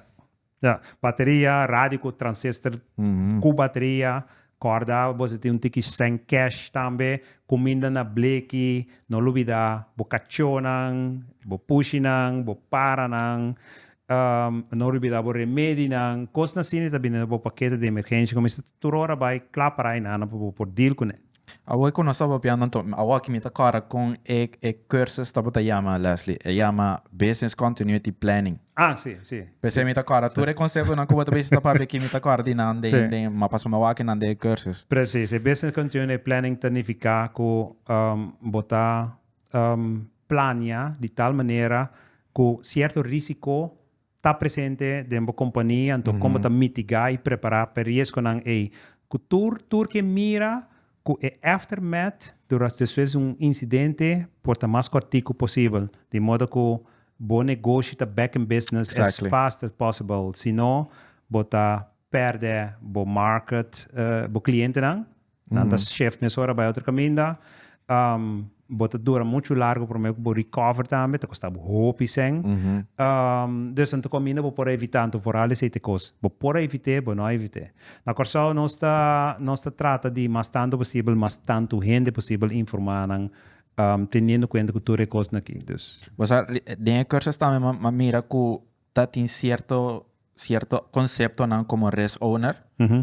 ja. Bateria, radio ku transistor ku bateria, Corda bos a tin un tiki sèn cash tambe, cuminda na bleki, no lubida bo cachonan, bo pushinan, bo paranan, no lubida bo remedinan, cosnan asina ta bini na bo paketo di emergencia cu mester tur ora bay cla para e nana pa bo por deal cu ne. Awe cu nos ta papia nan to, awoki mi ta corda con e cursus tabata yama Leslie, e yama Business Continuity Planning. Ah si, si. P'esei mi ta kòrda tur e konsehonan ku bo ta bisa ta papia aki, mi ta kòrda di nan den den ma paso mi a wak nan den e kùrsus. Presis, e business continuity planning ta nifiká ku bo ta plania di tal manera ku sierto risiko ta presente den bo kompania, anto kon bo ta mitigá i prepará p'e riesgonan ei ku tur tur ke mira Ku e aftermath duras despues un insidente por ta mas kòrtiku posibel, di modo ku bo negoshi ta back in business as fast as possible, si no bo ta pèrdè bo market, bo klientenan, nan ta shift mesora bai otro kaminda. Bo ta dura muchu largu prome ku bo recover tambe, ta kosta bo hopi sèn. Dus anto kaminda bo por a evitá anto for hal esei te kos. Bo por a evit'é, bo no a evit'é. Na Kòrsou nos ta nos ta trata di mas tantu posibel mas tantu hende posibel informá nan teniendo kuenta ku tur e kosnan akí. Dus. Bo sa den e kursos tambe mi a mira ku Ta tin cierto cierto conceptonan como rest owner,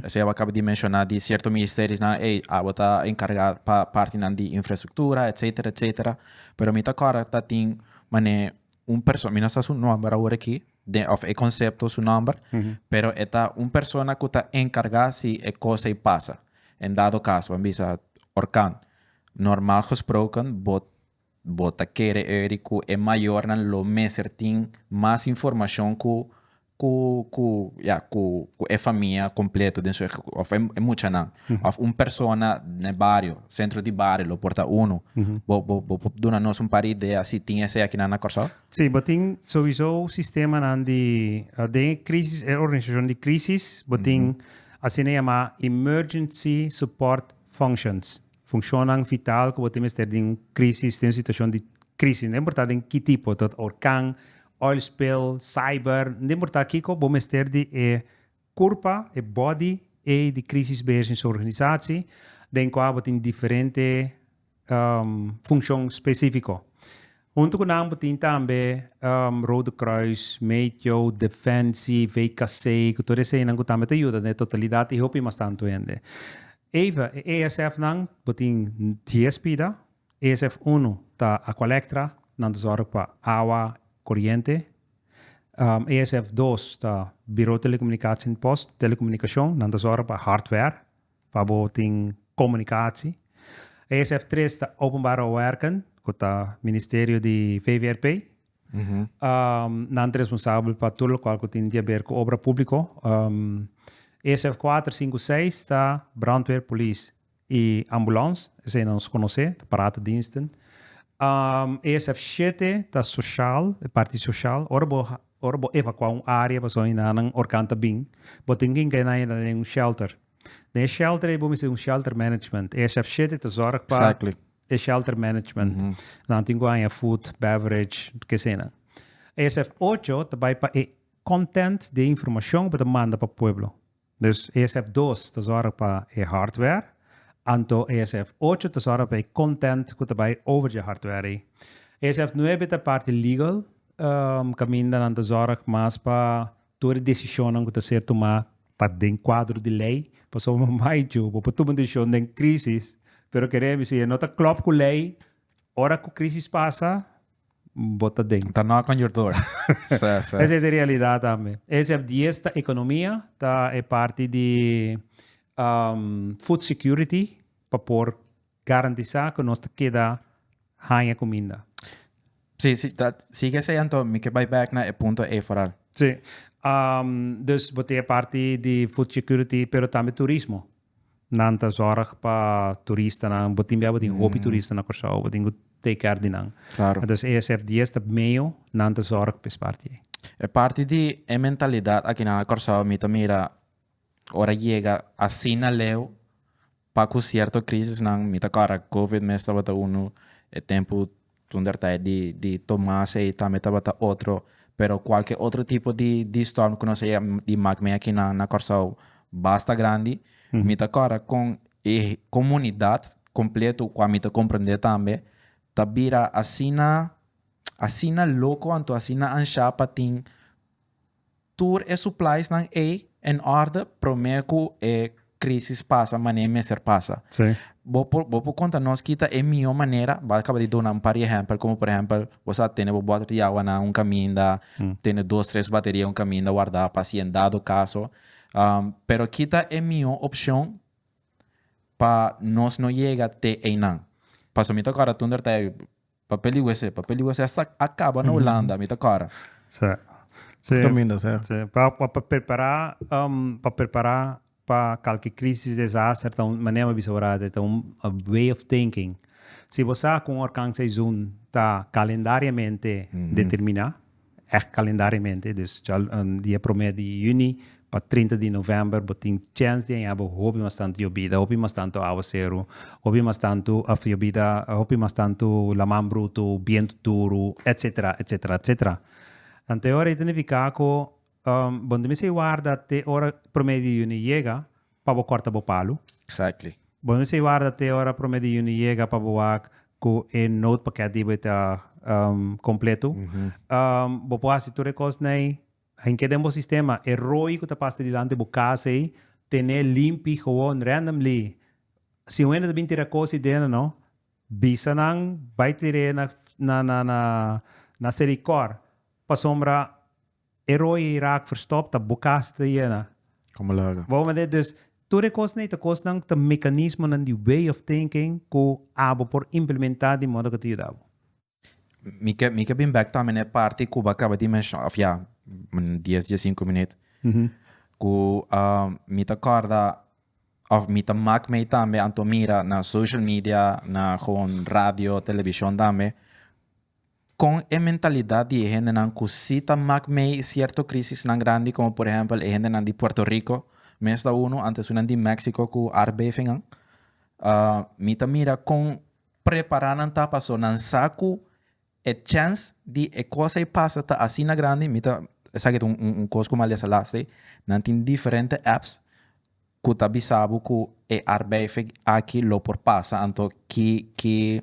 esey awo a caba di menciona di cierto ministerionan, ey awo ta encarga pa partinan di infraestructura etcetera etcetera, pero mi ta acorda ta tin mane un perso-, mi no sa su nomber awor aki den of e concepto su nomber, pero e ta un persona cu ta encarga si e cos ey pasa, en dado caso, bo a bisa orkan, normal gesproken bo Bo ta kere euri ku e mayornan lo mester tin mas informashon ku ku ku ya ku ku e famia kompleto den su òf e e muchanan òf un persona na e bario sentro di bario lo por ta unu bo bo bo por duna nos un par idea si tin esei akinan na Kòrsou? Sí, bo tin sowiso sistemanan di den e krisis e organisashon di krisis bo tin asina yamá emergency support functions. funcionnan vital cu bo tin mester den un crisis, den un situacion di crisis, no importa den ki tipo, ta horcan, oil spill, cyber, no importa kico, bo mester di e curpa, e body ey di crisis beheers in su organisatie, den cua bo tin diferente funcion specifico. Huntu ku nan bo tin tambe Rode Kruis, Meteo, Defensi, VKC, ku tur eseinan ku tambe ta yuda den e totalidat i hopi mas tantu hende. Eva, e ASF-nan, bo tin dies pida, ASF unu ta Aqualectra, nan ta zòrg pa awa, koriente, ASF dos ta Birou Telekomunikasie'n Post, Telekomunikashon, nan ta zòrg pa hardware. pa bo tin komunikasi. ESF tres ta Openbare Werken, ku ta ministerio di VVRP. Nan ta responsabel pa tur lokual ku tin di haber ku obra públiko. ESF kuater, sinku, seis ta brandweer, polis i ambulans, esei nos konosé, ta paraatediensten. ESF shete ta soshal, parti soshal. Ora bo Ora bo evacuá un área pasobra hinananan orkan ta bin, bo tin ke hinga hinannan den un shelter. Den e shelter ei bo mester un shelter management. E HFC te ta zorg pa e shelter management. Nan tin ku haña food, beverage, kesenan. E SF ocho ta bai pa e content di e informashon ku bo ta manda pa pueblo. Dus esf dos ta zorga pa e hardware, anto esf ocho ta zorga pa e content cu ta bay over dje hardware ey. Esf nuebe ta parti legal, caminda nan ta zorg mas pa tur e decisionnan cu ta ser tuma ta den cuadro di ley, pasobra bo bay djo, bo por tuma un decision den crisis, pero kere mi si e no ta clop cu ley, ora cu crisis pasa, bota den. Ta knock on your door. Sa, sa. Esa es di realidad tambe. E sef dies ta economia, ta e parti di um food security pa por garantisa cu nos ta keda haya cuminda. Si, si, ta, sigue esey anto mi ke bay back na e punto ey foral. Si. Um, dus bo tin e parti di food security pero tambe turismo. nan ta zorg pa turistanan, bo tin bia bo tin hopi turista na Kòrsou, bo tin ku take care di nan. Klaro. Entonces ESF dies ta medio nan ta zorg pa es parti ei. E parti di e mentalidat akinan na Kòrsou mi ta mira ora yega asina leu pa ku sierto krisisnan, mi ta kòrda Covid mes tabata unu e tempu Tonder ta e di di Tomas ei tambe tabata otro pero cualke otro tipo di di storm ku nos a di mak men aki na na Kòrsou basta grandi mi ta kòrda kon e komunidat kompleto kua mi ta komprende tambe ta bira asina asina loko anto asina anshá pa tin Tur e suplaisnan ei en orde promé ku e krísis pasa manera e mester pasa. Sí. Bo por, bo por konta nos ki ta e mihó manera? Bo a kaba di duna un par di ehèmpel, komo por ehèmpel, bo sa tene bo bòter di awa na un kaminda, tene dos, tres bateria na un kaminda wardá pa si en dado kaso. Pero ki ta e mihó opshon pa nos no yega te einan? Pasobra mi ta kòrda tunda ta e. Papel di wc, papel di wc hasta a caba na Hulanda mi ta cora. Sí. Sí. Por caminda, sí. Sí. Pa, pa, pa prepara, um, pa prepara pa calki crisis, desaster ta un, manera mi a bisa ora ta, ta un way of thinking. Si bo sa cu un horcan seison ta calendariamente determina. Ègt kalendariamente, dus djòl di e promé di yüni pa trinta di novèmber bo tin chèns di haña bo hopi mas tantu yobida, hopi mas tantu áwaseru, hopi mas tantu, òf yobida, hopi mas tantu laman brutu, bientu duru, etsetera, etsetera, etsetera. Anto e ora ei ta nifiká ku bo no ta mester warda te ora promé di yüni yega pa bo corta bo palu. Exactly. Bo no bisa warda te ora prome di juni yega pa bo wak cu e note paket di bo ta completo. Bo por haci tur e cos n'ey hinke den bo sistema. E roi cu ta pasa dilanti bo casa ey tene limpi gewoon randomly. Si un hende ta bini tira cos ey dena no bisa nan bay tira ey na na na na na seri cor pasobra E rooi ei raak verstop, ta bokaa si ta yena. Como laga. Bo mende? Dus tur e kosnan ei ta kosnan ku ta mekanismonan di way of thinking ku abo por implementá di modo ku ta yuda bo. Mi ke mi ke bin bek tambe na e parti ku bo kaba di menshona òf ya dies dies sinku minüt ku mi ta kòrda òf mi ta mak mei tambe anto mira na social media, na gewoon radio, televishon tambe. Con e mentalidad di e hendenan cu si ta mak mee cierto crisisnan grandi como por ehempel e hendenan di Puerto Rico, mes ta uno antesunan di Mexico cu aardbevingan, mi ta mira con prepara nan ta paso nan sa cu e chance di e cosa ei pasa ta asina grandi, mi ta esaki ta un cos cu mi a lesa last'e, nan tin diferente apps. Cu ta bisa bo cu e arbeific aki lo por pasa anto ki ki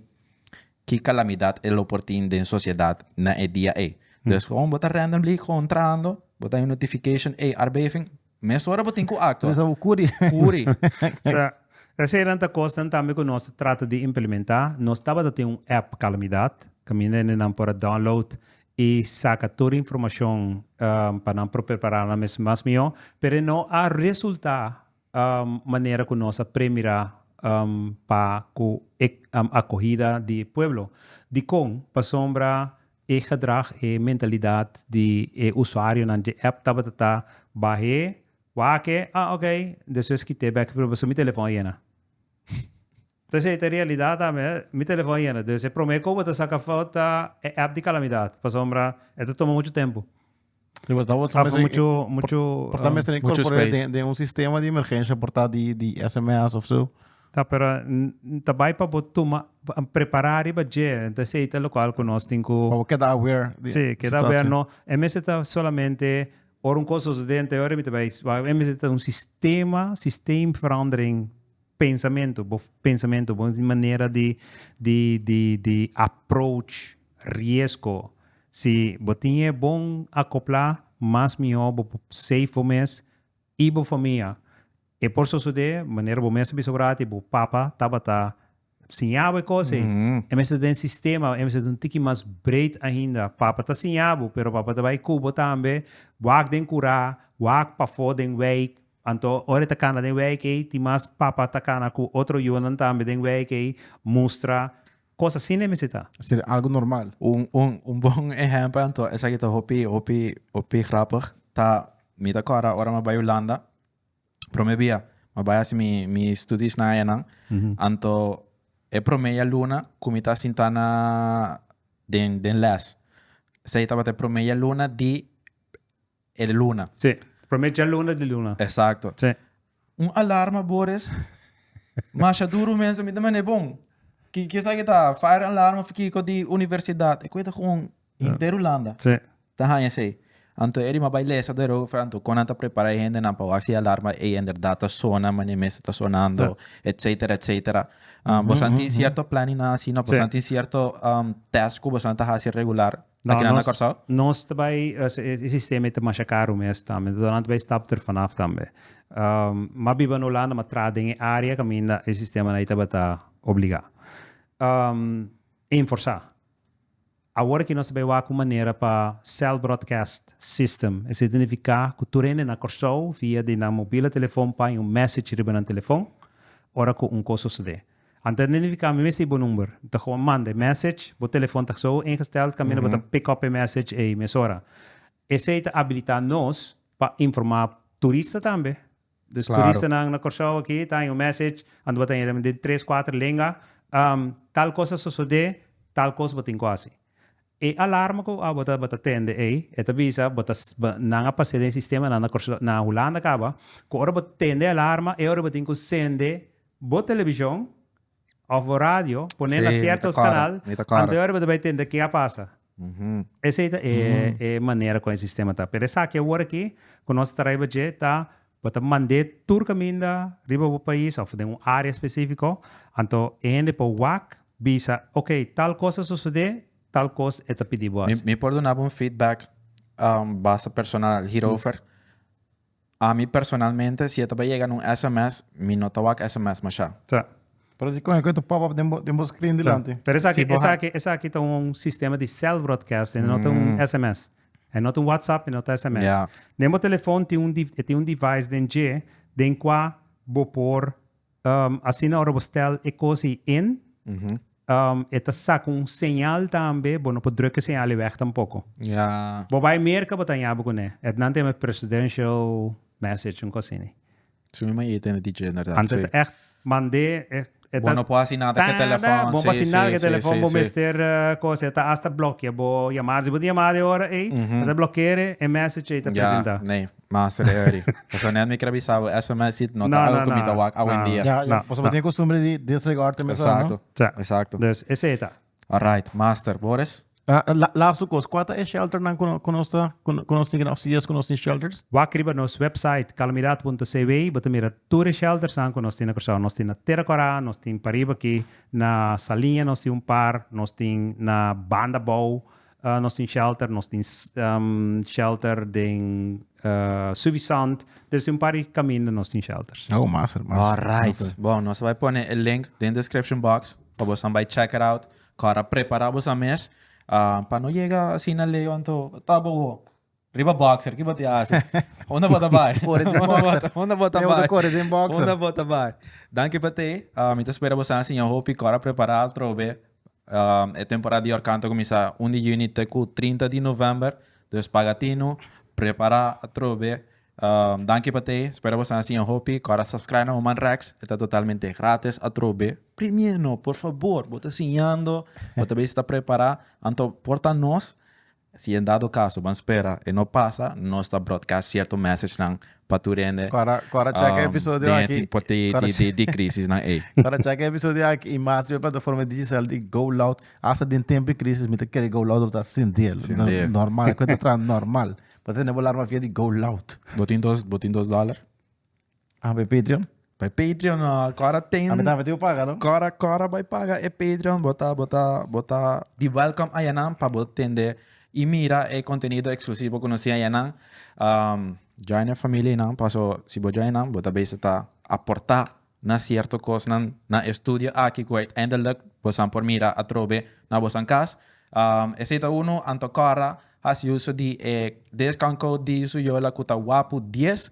ki calamidad e lo por tin den sociedad na e dia ey. Dus con bo ta randomly contrando bo ta un notification ey arbeific mesora bo tin cu actua. Bisa bo curi. Curi. So esenan ta cosnan tambe cu nos ta trata di implementa. Nos tabata tin un app calamidad caminda hende nan por a download i saka tur informashon pa nan por prepará nan mes mas mihó, pero e no a resultá manera ku nos a premirá pa ku e akohida di e pueblo. Dikon? Pasobra e gedrag, e mentalidat di e usuarionan dje app tabata ta bah'é, wak é, ah ok, despues kit'é bèk, pero pasobra mi telefòn a yena. P'esei ta e realidat ami, mi telefòn a yena. Dus e promé ku bo ta saka fout ta e app di kalamidat, pasobra e ta tuma muchu tempu. I por ta bo ta mester muchu muchu por ta mester inkorpor'é den un sistema di emergensha por ta di sms of so. Ta pero ta bai pa bo tuma prepará riba dje, ta esei ta lokual ku nos tin ku. Pa bo keda aware di e situatio. No e mester ta solamente ora un kos ta sosodé anteor mi ta bai, e mester ta un sistema, systeemverandering Pensamentu, bo pensamentu, bo manera di di di di approach riesgo. Si bo tin e bon akoplá, mas mihó bo por safe bo mes i bo famia. E por sosodé, manera bo mes a bisa ora aki, bo papa tabata siña bo e kos ei. E mester ta den e sistema, e mester ta un tiki mas breed ainda. Papa ta siña bo, pero papa ta bai ku bo tambe, wak den kurá, wak pafó den weik, Anto ora e ta cana den wei kei tin mas papa ta cana cu otro yunan tambe den wei kei mustra cos asina e mester ta. Ser algo normal. Un un un bon ehempel anto esaki ta hopi hopi hopi grapig ta mi ta corda ora mi a bai Hulanda prome bia mi a bai haci mi mi studies nan ayanan anto e prome yaluna cu mi ta sinta na den den les esaki tabata e prome yaluna di E di luna. Sí. Prome djaluna di luna. Exacto. Sí. Un alarma bores. Masha duru mens mi ta manda e bon. Ki ki esaki ta fire alarm of kiko di universidad. E kue ta gewoon henter hulanda. Sí. Ta haya esey. Anto e di mas bay lesa derover anto kon nan ta prepara e hendenan pa wak si e alarma ey en berdad ta sona mane mester ta sonando etcetera etcetera. Boso nan tin cierto planninnan asina? Boso nan tin cierto test ku boso nan ta hasi regular? No, Taki na nos, Curaçao? nos te bai, es, es, e sistema te masha caro mes tambe, entonces nan te bai stap ter vanaf tambe. Um, ma biba en Holanda, ma tra den e area caminda e sistema na tabata obliga. Um, enforsa. Awor ki nos te bai wak un manera pa cell broadcast system, es identifica cu tur hende na Curaçao via di nan mobila telefon pai un message riba nan telefon ora cu un cos sosode. Ante ta nidifika mi mester i bo number. Mi ta gewoon manda e message. Bo telefon ta so ingesteld kaminda bo ta pick up e message ei mesora. Esei ta abilita nos pa informa turista tambe. Dus turistanan na Kòrsou aki ta haña un message ante bo ta haña den tres kuater lenga, tal kos a sosodé, tal kos bo tin ku hasi. E alarma ku abo ta bo ta tende ei e ta bisa bo ta bo nan a pase den sistema nan na Hulanda kaba ku ora bo tende e alarma e ora bo tin ku sende bo televishon of bo radio pone na sierto kanal anto ora bo ta bai tende ke a pasa esei ta e manera ku e sistema ta pero esaki awor aki ku nos ta traiba dje ta Bo ta mand'é tur kaminda riba bo pais òf den un área espesífiko, anto e hende por wak bisa, ok, tal kos a sosodé, tal kos e ta pidi bo hasi. Mi por duna bo un feedback basta personal hierover. Ami personalmente, si e ta bai yega na un sms, mi no ta wak sms mashá. Ta. Pero di kon e ta pop up den bo screen dilanti. Ta. Pero esaki, esaki, esaki ta un sistema di cell broadcasting, no ta un sms. E no ta un WhatsApp, e no ta sms. Ja. Den bo telefon tin un di, e tin un device den dje den kua bo por um, asina ora bo stel e kos ei in, um, e ta saka un señal tambe, bo no por druk e señal ei weg tampoko. Ja. Bo bai Merka, bo ta hañaba kuné. Etnan ta yama presidential message, un kos asini. Su mi maye tene DJ inderdat. Anto e ta echt mand'é, e ta. Bo no por hasi nada ku e telefòn, si, si, si. Bo no por hasi nada ku e telefòn, bo mester kos, e ta hasta blokia bo yamada. Si bo ta yamada e ora ei, e ta blokear'é, e mèsèch ei ta presentá. Ya, nee, master e hurry. Pasobra nèt mi kier a bisa bo, sms sit no ta algu ku mi ta wak awendia. Ya, ya, pasobra bo tene kostumbre di disregard te mester, no? Exacto, exacto. Dus esei ta. Alright, master. Boris? Ah, la, laatste kos, kua ta e shelternan ku, ku nos ta, ku, ku nos tin keda ofsi yes ku nos tin shelters? Wak riba nos website calamidad.cw bo ta mira tur e sheltersnan ku nos tin na Kòrsou. Nos tin na Tera Kòrá, nos tin pariba aki na Saliña nos tin un par, nos tin na banda bou, Nos tin shelter, nos tin shelter den Suvisant, debe ser un par di caminda nos tin shelters. Oh, master, master. Alright, bon, nos a bai pone e link den description box pa bosan bai check it out, kor a prepara bosan mes, pa no yega asina leo anto ta bo. Riba boxer ki bo te hasi. Unda bo ta bai? Kore den boxer. Unda bo ta bai? Bo ta kore den boxer. Unda bo ta bai? Danki pa te. Mi ta spera bo sa siña hopi kor a prepara altrobe. E temporada di Yorkant ta kuminsá un di yüni te ku trinta di novèmber. Dus paga tinu, prepara atrobe. Danki pa te. Spera bo sa siña hopi kor a subscribe na Human Rex. E ta totalmente grátis atrobe. Primero, por fabor, bo ta siñando, bo ta bisa ta prepará, anto por ta nos. Si en dado caso ban spera e no pasa nos ta broadcast cierto message nan pa tur hende den e tipo di crisis nan ey. Cora checa episodio aki y mas riba e plataforma di Digicel di Go Loud. Hasta den tempo di crisis mi ta kere Go Loud lo ta sindiel. Normal, e cuenta traha normal. Bo ta tene bo alarma via di Go Loud. Bo tin dos dollar? Ah, bij Patreon? Bij Patreon, no. Kora ten... Ami tambe tiu paga, no? Kora, kora bij paga e Patreon. Bota, bota, bota di welkom ayanan pa bo tende i mira e contenido exclusivo cu nos tin ayanan. Um, join e familia y nan, paso si bo join nan, bo ta bezig ta aporta na cierto cosnan na e studio aki cu uiteindelijk bosan por mira atrobe na bosan cas. Um, esey ta uno, Anto Kora hasi uso di e discount code di su yola cu ta wapu dies.